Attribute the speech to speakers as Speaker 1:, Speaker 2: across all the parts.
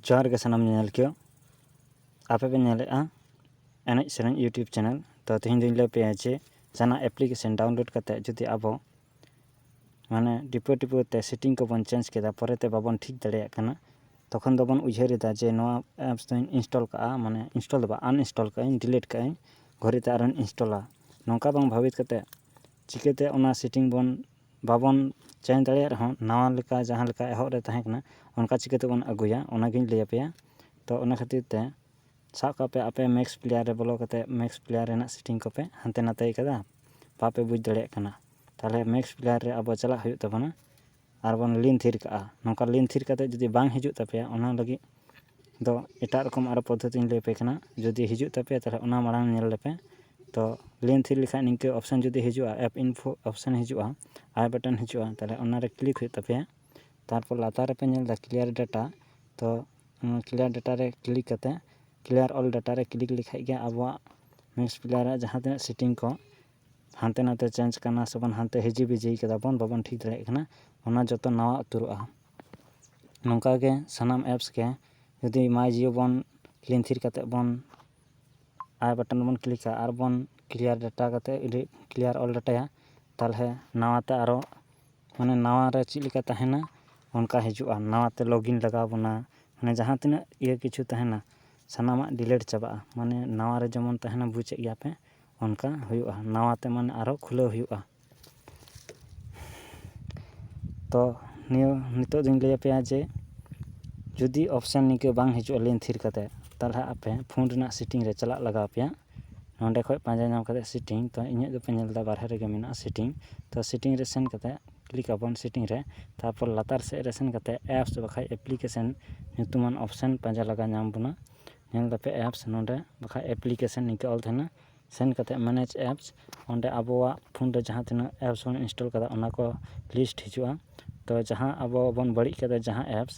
Speaker 1: ᱡᱚᱦᱟᱨ ᱜᱮ ᱥᱟᱱᱟᱢ ᱧᱮᱧᱮᱞᱠᱤᱭᱟᱹ ᱟᱯᱮ ᱯᱮ ᱧᱮᱞᱮᱫᱼᱟ ᱮᱱᱮᱡ ᱥᱮᱨᱮᱧ ᱤᱭᱩᱴᱩᱵᱽ ᱪᱮᱱᱮᱞ ᱛᱚ ᱛᱮᱦᱮᱧ ᱫᱚᱧ ᱞᱟᱹᱭ ᱟᱯᱮᱭᱟ ᱡᱮ ᱡᱟᱦᱟᱱᱟᱜ ᱮᱯᱞᱤᱠᱮᱥᱚᱱ ᱰᱟᱣᱩᱱᱞᱳᱰ ᱠᱟᱛᱮᱫ ᱡᱩᱫᱤ ᱟᱵᱚ ᱢᱟᱱᱮ ᱴᱤᱯᱟᱹ ᱴᱤᱯᱟᱹ ᱛᱮ ᱥᱮᱴᱤᱝ ᱠᱚᱵᱚᱱ ᱪᱮᱧᱡᱽ ᱠᱮᱫᱟ ᱯᱚᱨᱮᱛᱮ ᱵᱟᱵᱚᱱ ᱴᱷᱤᱠ ᱫᱟᱲᱮᱭᱟᱜ ᱠᱟᱱᱟ ᱛᱚᱠᱷᱚᱱ ᱫᱚᱵᱚᱱ ᱩᱭᱦᱟᱹᱨ ᱮᱫᱟ ᱡᱮ ᱱᱚᱣᱟ ᱮᱯᱥ ᱫᱚᱧ ᱤᱱᱥᱴᱚᱞ ᱠᱟᱜᱼᱟ ᱢᱟᱱᱮ ᱤᱱᱥᱴᱚᱞ ᱫᱚ ᱵᱟᱝ ᱟᱱᱤᱱᱥᱴᱚᱞ ᱠᱟᱜ ᱟᱹᱧ ᱰᱤᱞᱤᱴ ᱠᱟᱜ ᱟᱹᱧ ᱜᱷᱩᱨᱮᱛᱮ ᱟᱨᱚᱧ ᱤᱱᱥᱴᱚᱞᱟ ᱱᱚᱝᱠᱟ ᱵᱟᱝ ᱵᱷᱟᱹᱵᱤᱛ ᱠᱟᱛᱮᱫ ᱪᱤᱠᱟᱹᱛᱮ ᱚᱱᱟ ᱥᱮᱴᱤᱝ ᱵᱚᱱ ᱵᱟᱵᱚᱱ ᱪᱮᱧᱡᱽ ᱫᱟᱲᱮᱭᱟᱜ ᱨᱮᱦᱚᱸ ᱱᱟᱣᱟ ᱞᱮᱠᱟ ᱡᱟᱦᱟᱸ ᱞᱮᱠᱟ ᱮᱦᱚᱵ ᱨᱮ ᱛᱟᱦᱮᱸ ᱠᱟᱱᱟ ᱚᱱᱠᱟ ᱪᱤᱠᱟᱹ ᱛᱮᱵᱚᱱ ᱟᱹᱜᱩᱭᱟ ᱚᱱᱟᱜᱤᱧ ᱞᱟᱹᱭ ᱟᱯᱮᱭᱟ ᱛᱚ ᱚᱱᱟ ᱠᱷᱟᱹᱛᱤᱨ ᱛᱮ ᱥᱟᱵ ᱠᱟᱜ ᱯᱮ ᱟᱯᱮ ᱢᱮᱠᱥ ᱯᱞᱮᱭᱟᱨ ᱨᱮ ᱵᱚᱞᱚ ᱠᱟᱛᱮ ᱢᱮᱠᱥ ᱯᱞᱮᱭᱟᱨ ᱨᱮᱱᱟᱜ ᱥᱮᱴᱤᱝ ᱠᱚᱯᱮ ᱦᱟᱱᱛᱮ ᱱᱟᱛᱮᱭ ᱠᱟᱫᱟ ᱵᱟᱯᱮ ᱵᱩᱡᱽ ᱫᱟᱲᱮᱭᱟᱜ ᱠᱟᱱᱟ ᱛᱟᱦᱚᱞᱮ ᱢᱮᱠᱥ ᱯᱞᱮᱭᱟᱨ ᱨᱮ ᱟᱵᱚ ᱪᱟᱞᱟᱜ ᱦᱩᱭᱩᱜ ᱛᱟᱵᱚᱱᱟ ᱟᱨᱵᱚᱱ ᱞᱤᱱ ᱛᱷᱤᱨ ᱠᱟᱜᱼᱟ ᱱᱚᱝᱠᱟ ᱞᱤᱱ ᱛᱷᱤᱨ ᱠᱟᱛᱮ ᱡᱩᱫᱤ ᱵᱟᱝ ᱦᱤᱡᱩᱜ ᱛᱟᱯᱮᱭᱟ ᱚᱱᱟ ᱞᱟᱹᱜᱤᱫ ᱫᱚ ᱮᱴᱟᱜ ᱨᱚᱠᱚᱢ ᱟᱨᱚ ᱯᱚᱫᱽᱫᱷᱚᱛᱤᱧ ᱞᱟᱹᱭ ᱟᱯᱮ ᱠᱟᱱᱟ ᱡᱩᱫᱤ ᱦᱤᱡᱩᱜ ᱛᱟᱯᱮᱭᱟ ᱛᱟᱦᱚᱞᱮ ᱚᱱᱟ ᱢᱟᱲᱟᱝ ᱧᱮᱞ ᱞᱮᱯᱮ ᱛᱚ ᱞᱮᱱ ᱛᱷᱤᱨ ᱞᱮᱠᱷᱟᱡ ᱱᱤᱝᱠᱟᱹ ᱚᱯᱷᱥᱮᱱ ᱡᱩᱫᱤ ᱦᱤᱡᱩᱜᱼᱟ ᱮᱯ ᱤᱱᱯᱷᱳ ᱚᱯᱷᱥᱮᱱ ᱦᱤᱡᱩᱜᱼᱟ ᱟᱭ ᱵᱟᱴᱚᱱ ᱦᱤᱡᱩᱜᱼᱟ ᱛᱟᱦᱚᱞᱮ ᱚᱱᱟᱨᱮ ᱠᱞᱤᱠ ᱦᱩᱭᱩᱜ ᱛᱟᱯᱮᱭᱟ ᱛᱟᱨᱯᱚᱨ ᱞᱟᱛᱟᱨ ᱨᱮᱯᱮ ᱧᱮᱞ ᱮᱫᱟ ᱠᱞᱤᱭᱟᱨ ᱰᱟᱴᱟ ᱛᱚ ᱚᱱᱟ ᱠᱞᱤᱭᱟᱨ ᱰᱟᱴᱟ ᱨᱮ ᱠᱞᱤᱠ ᱠᱟᱛᱮᱫ ᱠᱞᱤᱭᱟᱨ ᱚᱞ ᱰᱟᱴᱟ ᱨᱮ ᱠᱞᱤᱠ ᱞᱮᱠᱷᱟᱡ ᱜᱮ ᱟᱵᱚᱣᱟᱜ ᱢᱮᱥ ᱯᱞᱮᱭᱟᱨ ᱟᱜ ᱡᱟᱦᱟᱸ ᱛᱤᱱᱟᱹᱜ ᱥᱮᱴᱤᱝ ᱠᱚ ᱦᱟᱱᱛᱮ ᱱᱟᱛᱮ ᱪᱮᱧᱡᱽ ᱠᱟᱱᱟ ᱥᱮᱵᱚᱱ ᱦᱟᱱᱛᱮ ᱦᱤᱡᱤ ᱵᱤᱡᱤ ᱠᱟᱫᱟ ᱵᱚᱱ ᱵᱟᱵᱚᱱ ᱴᱷᱤᱠ ᱫᱟᱲᱮᱭᱟᱜ ᱠᱟᱱᱟ ᱚᱱᱟ ᱡᱚᱛᱚ ᱱᱟᱣᱟ ᱩᱛᱟᱹᱨᱚᱜᱼᱟ ᱱᱚᱝᱠᱟ ᱜᱮ ᱥᱟᱱᱟᱢ ᱮᱯᱥ ᱜᱮ ᱡᱩᱫᱤ ᱢᱟᱭ ᱡᱤᱭᱳ ᱵᱚᱱ ᱞᱤᱝᱠ ᱛᱷᱤᱨ ᱠᱟᱛᱮᱫ ᱵᱚᱱ ᱟᱭ ᱵᱟᱴᱚᱱ ᱵᱚᱱ ᱠᱞᱤᱠᱟ ᱟᱨ ᱵᱚᱱ ᱠᱞᱤᱭᱟᱨ ᱰᱟᱴᱟ ᱠᱟᱛᱮᱫ ᱡᱩᱫᱤ ᱠᱞᱤᱭᱟᱨ ᱚᱞ ᱰᱟᱴᱟᱭᱟ ᱛᱟᱦᱚᱞᱮ ᱱᱟᱣᱟ ᱛᱮ ᱟᱨᱚ ᱢᱟᱱᱮ ᱱᱟᱣᱟ ᱨᱮ ᱪᱮᱫ ᱞᱮᱠᱟ ᱛᱟᱦᱮᱱᱟ ᱚᱱᱠᱟ ᱦᱤᱡᱩᱜᱼᱟ ᱱᱟᱣᱟ ᱛᱮ ᱞᱚᱜᱤᱱ ᱞᱟᱜᱟᱣ ᱵᱚᱱᱟ ᱢᱟᱱᱮ ᱡᱟᱦᱟᱸ ᱛᱤᱱᱟᱹᱜ ᱤᱭᱟᱹ ᱠᱤᱪᱷᱩ ᱛᱟᱦᱮᱱᱟ ᱥᱟᱱᱟᱢᱟᱜ ᱰᱤᱞᱮᱴ ᱪᱟᱵᱟᱜᱼᱟ ᱢᱟᱱᱮ ᱱᱟᱣᱟ ᱨᱮ ᱡᱮᱢᱚᱱ ᱛᱟᱦᱮᱱᱟ ᱵᱩᱡᱮᱫ ᱜᱮᱭᱟᱯᱮ ᱚᱱᱠᱟ ᱦᱩᱭᱩᱜᱼᱟ ᱱᱟᱣᱟ ᱛᱮ ᱢᱟᱱᱮ ᱟᱨᱚ ᱠᱷᱩᱞᱟᱹᱣ ᱦᱩᱭᱩᱜᱼᱟ ᱛᱚ ᱱᱤᱭᱟᱹ ᱱᱤᱛᱳᱜ ᱫᱩᱧ ᱞᱟᱹᱭ ᱟᱯᱮᱭᱟ ᱡᱮ ᱡᱩᱫᱤ ᱚᱯᱷᱥᱮᱱ ᱱᱤᱝᱠᱟᱹ ᱵᱟᱝ ᱦᱤᱡᱩᱜᱼᱟ ᱞᱮᱱ ᱛᱷᱤᱨ ᱠᱟᱛᱮ ᱛᱟᱞᱦᱮ ᱟᱯᱮ ᱯᱷᱳᱱ ᱨᱮᱱᱟᱜ ᱥᱮᱴᱤᱝ ᱨᱮ ᱪᱟᱞᱟᱜ ᱞᱟᱜᱟᱣ ᱯᱮᱭᱟ ᱱᱚᱸᱰᱮ ᱠᱷᱚᱡ ᱯᱟᱸᱡᱟ ᱧᱟᱢ ᱠᱟᱛᱮ ᱥᱮᱴᱤᱝ ᱛᱚ ᱤᱧᱟᱹᱜ ᱫᱚᱯᱮ ᱧᱮᱞᱫᱟ ᱵᱟᱨᱦᱮ ᱨᱮᱜᱮ ᱢᱮᱱᱟᱜᱼᱟ ᱥᱮᱴᱤᱝ ᱛᱚ ᱥᱮᱴᱤᱝ ᱨᱮ ᱥᱮᱱ ᱠᱟᱛᱮ ᱠᱞᱤᱠ ᱟᱵᱚᱱ ᱥᱮᱴᱤᱝ ᱨᱮ ᱛᱟᱯᱚᱨ ᱞᱟᱛᱟᱨ ᱥᱮᱡ ᱨᱮ ᱥᱮᱱ ᱠᱟᱛᱮ ᱮᱯᱥ ᱵᱟᱠᱷᱟᱡ ᱮᱯᱞᱤᱠᱮᱥᱮᱱ ᱧᱩᱛᱩᱢᱟᱱ ᱚᱯᱷᱥᱮᱱ ᱯᱟᱸᱡᱟ ᱞᱟᱜᱟ ᱧᱟᱢ ᱵᱚᱱᱟ ᱧᱮᱞ ᱫᱟᱯᱮ ᱮᱯᱥ ᱱᱚᱸᱰᱮ ᱵᱟᱠᱷᱟᱡ ᱮᱯᱞᱤᱠᱮᱥᱮᱱ ᱱᱤᱝᱠᱟᱹ ᱚᱞ ᱛᱟᱦᱮᱱᱟ ᱥᱮᱱ ᱠᱟᱛᱮᱫ ᱢᱮᱱᱮᱡᱽ ᱮᱯᱥ ᱚᱸᱰᱮ ᱟᱵᱚᱣᱟᱜ ᱯᱷᱳᱱ ᱨᱮ ᱡᱟᱦᱟᱸ ᱛᱤᱱᱟᱹᱜ ᱮᱯᱥ ᱵᱚᱱ ᱤᱱᱥᱴᱚᱞ ᱠᱟᱫᱟ ᱚᱱᱟ ᱠᱚ ᱞᱤᱥᱴ ᱦᱤᱡᱩᱜᱼᱟ ᱛᱚ ᱡᱟᱦᱟᱸ ᱟᱵᱚ ᱵᱚᱱ ᱵᱟᱹᱲᱤᱡ ᱠᱟᱫᱟ ᱡᱟᱦᱟᱸ ᱮᱯᱥ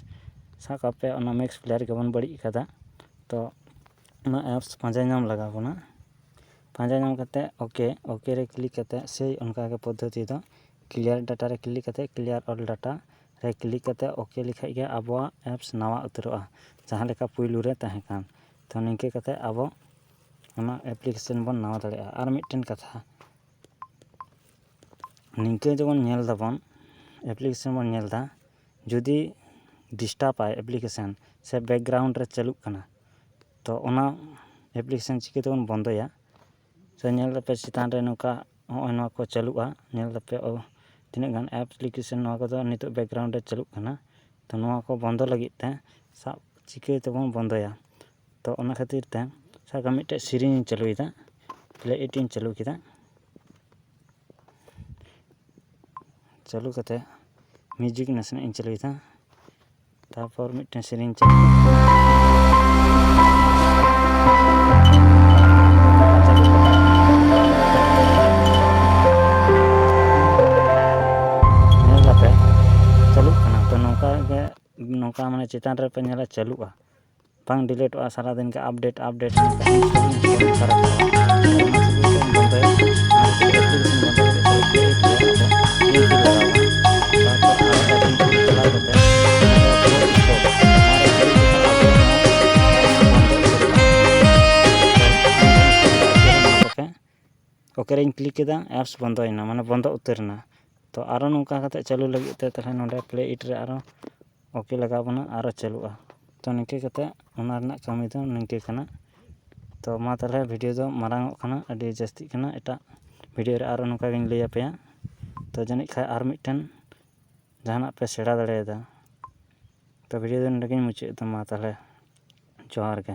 Speaker 1: ᱥᱟᱵ ᱠᱟᱜ ᱯᱮ ᱚᱱᱟ ᱢᱮᱠᱥ ᱯᱞᱮᱭᱟᱨ ᱜᱮᱵᱚᱱ ᱵᱟᱹᱲᱤᱡ ᱠᱟᱫᱟ ᱛᱚ ᱚᱱᱟ ᱮᱯᱥ ᱯᱟᱸᱡᱟ ᱧᱟᱢ ᱞᱟᱜᱟᱣ ᱵᱚᱱᱟ ᱯᱟᱸᱡᱟ ᱧᱟᱢ ᱠᱟᱛᱮᱫ ᱳᱠᱮ ᱳᱠᱮ ᱨᱮ ᱠᱞᱤᱠ ᱠᱟᱛᱮᱫ ᱥᱮᱭ ᱚᱱᱠᱟ ᱜᱮ ᱯᱚᱫᱽᱫᱷᱚᱛᱤ ᱫᱚ ᱠᱞᱤᱭᱟᱨ ᱰᱟᱴᱟ ᱨᱮ ᱠᱞᱤᱠ ᱠᱟᱛᱮᱫ ᱠᱞᱤᱭᱟᱨ ᱚᱞ ᱰᱟᱴᱟ ᱨᱮ ᱠᱞᱤᱠ ᱠᱟᱛᱮᱫ ᱳᱠᱮ ᱞᱮᱠᱷᱟᱱ ᱜᱮ ᱟᱵᱚᱣᱟᱜ ᱮᱯᱥ ᱱᱟᱣᱟ ᱩᱛᱟᱹᱨᱚᱜᱼᱟ ᱡᱟᱦᱟᱸ ᱞᱮᱠᱟ ᱯᱳᱭᱞᱳ ᱨᱮ ᱛᱟᱦᱮᱸ ᱠᱟᱱ ᱛᱚ ᱱᱤᱝᱠᱟᱹ ᱠᱟᱛᱮᱫ ᱟᱵᱚ ᱚᱱᱟ ᱮᱯᱞᱤᱠᱮᱥᱚᱱ ᱵᱚᱱ ᱱᱟᱢᱟᱣ ᱫᱟᱲᱮᱭᱟᱜᱼᱟ ᱟᱨ ᱢᱤᱫᱴᱮᱱ ᱠᱟᱛᱷᱟ ᱱᱤᱝᱠᱟᱹ ᱡᱮᱢᱚᱱ ᱧᱮᱞ ᱫᱟᱵᱚᱱ ᱮᱯᱞᱤᱠᱮᱥᱚᱱ ᱵᱚᱱ ᱧᱮᱞᱫᱟ ᱡᱩᱫᱤ ᱰᱤᱥᱴᱟᱵᱽ ᱟᱭ ᱮᱯᱞᱤᱠᱮᱥᱚᱱ ᱥᱮ ᱵᱮᱠᱜᱨᱟᱣᱩᱱᱰ ᱨᱮ ᱪᱟᱹᱞᱩᱜ ᱠᱟᱱᱟ ᱛᱚ ᱚᱱᱟ ᱮᱯᱞᱤᱠᱮᱥᱚᱱ ᱪᱤᱠᱟᱹ ᱛᱮᱵᱚᱱ ᱵᱚᱱᱫᱚᱭᱟ ᱥᱮ ᱧᱮᱞ ᱫᱟᱯᱮ ᱪᱮᱛᱟᱱ ᱨᱮ ᱱᱚᱝᱠᱟ ᱱᱚᱜᱼᱚᱭ ᱱᱚᱣᱟ ᱠᱚ ᱪᱟᱹᱞᱩᱜᱼᱟ ᱧᱮᱞ ᱫᱟᱯᱮ ᱚ ᱛᱤᱱᱟᱹᱜ ᱜᱟᱱ ᱮᱯᱞᱤᱠᱮᱥᱚᱱ ᱱᱚᱣᱟ ᱠᱚᱫᱚ ᱱᱤᱛᱚᱜ ᱵᱮᱠᱜᱨᱟᱣᱩᱱᱰ ᱨᱮ ᱪᱟᱹᱞᱩᱜ ᱠᱟᱱᱟ ᱛᱚ ᱱᱚᱣᱟ ᱠᱚ ᱵᱚᱱᱫᱚ ᱞᱟᱹᱜᱤᱫ ᱛᱮ ᱥᱟᱵ ᱪᱤᱠᱟᱹ ᱛᱮᱵᱚᱱ ᱵᱚᱱᱫᱚᱭᱟ ᱛᱚ ᱚᱱᱟ ᱠᱷᱟᱹᱛᱤᱨ ᱛᱮ ᱥᱟᱵ ᱠᱟᱜ ᱢᱮ ᱢᱤᱫᱴᱮᱡ ᱥᱮᱨᱮᱧ ᱤᱧ ᱪᱟᱹᱞᱩᱭᱮᱫᱟ ᱯᱞᱮ ᱤᱴ ᱤᱧ ᱪᱟᱹᱞᱩ ᱠᱮᱫᱟ ᱪᱟᱹᱞᱩ ᱠᱟᱛᱮ ᱢᱤᱭᱩᱡᱤᱠ ᱱᱟᱥᱮᱱᱟᱜ ᱤᱧ ᱪᱟᱹᱞᱩᱭᱮᱫᱟ ᱛᱟᱨᱯᱚᱨ ᱢᱤᱫᱴᱮᱱ ᱥᱮᱨᱮᱧ ᱤᱧ ᱪᱟᱹᱞᱩ ᱪᱟᱹᱞᱩᱜ ᱠᱟᱱᱟ ᱛᱚ ᱱᱚᱝᱠᱟ ᱜᱮ ᱱᱚᱝᱠᱟ ᱢᱟᱱᱮ ᱪᱮᱛᱟᱱ ᱨᱮᱯᱮ ᱧᱮᱞᱟ ᱪᱟᱹᱞᱩᱜᱼᱟ ᱵᱟᱝ ᱰᱤᱞᱮᱴᱚᱜᱼᱟ ᱥᱟᱨᱟᱫᱤᱱ ᱜᱮ ᱟᱯᱰᱮᱴ ᱟᱯᱰᱮᱴ ᱳᱠᱮ ᱨᱮᱧ ᱠᱞᱤᱠ ᱠᱮᱫᱟ ᱮᱯᱥ ᱵᱚᱱᱫᱚᱭᱮᱱᱟ ᱢᱟᱱᱮ ᱵᱚᱱᱫᱚ ᱩᱛᱟᱹᱨᱮᱱᱟ ᱛᱚ ᱟᱨᱚ ᱱᱚᱝᱠᱟ ᱠᱟᱛᱮᱫ ᱪᱟᱹᱞᱩ ᱞᱟᱹᱜᱤᱫ ᱛᱮ ᱛᱟᱦᱚᱞᱮ ᱱᱚᱰᱮ ᱯᱞᱮ ᱤᱴ ᱨᱮ ᱟᱨᱚ ᱳᱠᱮ ᱞᱟᱜᱟᱣ ᱵᱚᱱᱟ ᱟᱨᱚ ᱪᱟᱹᱞᱩᱜᱼᱟ ᱛᱚ ᱱᱤᱝᱠᱟᱹ ᱠᱟᱛᱮ ᱚᱱᱟ ᱨᱮᱱᱟᱜ ᱠᱟᱹᱢᱤ ᱫᱚ ᱱᱤᱝᱠᱟᱹ ᱠᱟᱱᱟ ᱛᱚ ᱢᱟ ᱛᱟᱦᱚᱞᱮ ᱵᱷᱤᱰᱤᱭᱳ ᱫᱚ ᱢᱟᱨᱟᱝ ᱚᱜ ᱠᱟᱱᱟ ᱟᱹᱰᱤ ᱡᱟᱹᱥᱛᱤᱜ ᱠᱟᱱᱟ ᱮᱴᱟᱜ ᱵᱷᱤᱰᱤᱭᱳ ᱨᱮ ᱟᱨᱚ ᱱᱚᱝᱠᱟ ᱜᱮᱧ ᱞᱟᱹᱭ ᱟᱯᱮᱭᱟ ᱛᱚ ᱡᱟᱹᱱᱤᱡ ᱠᱷᱟᱡ ᱟᱨ ᱢᱤᱫᱴᱮᱱ ᱡᱟᱦᱟᱱᱟᱜ ᱯᱮ ᱥᱮᱬᱟ ᱫᱟᱲᱮᱭᱟᱫᱟ ᱛᱚ ᱵᱷᱤᱰᱤᱭᱳ ᱫᱚ ᱱᱚᱰᱮ ᱜᱮᱧ ᱢᱩᱪᱟᱹᱫ ᱮᱫᱟ ᱢᱟ ᱛᱟᱦᱚᱞᱮ ᱡᱚᱦᱟᱨ ᱜᱮ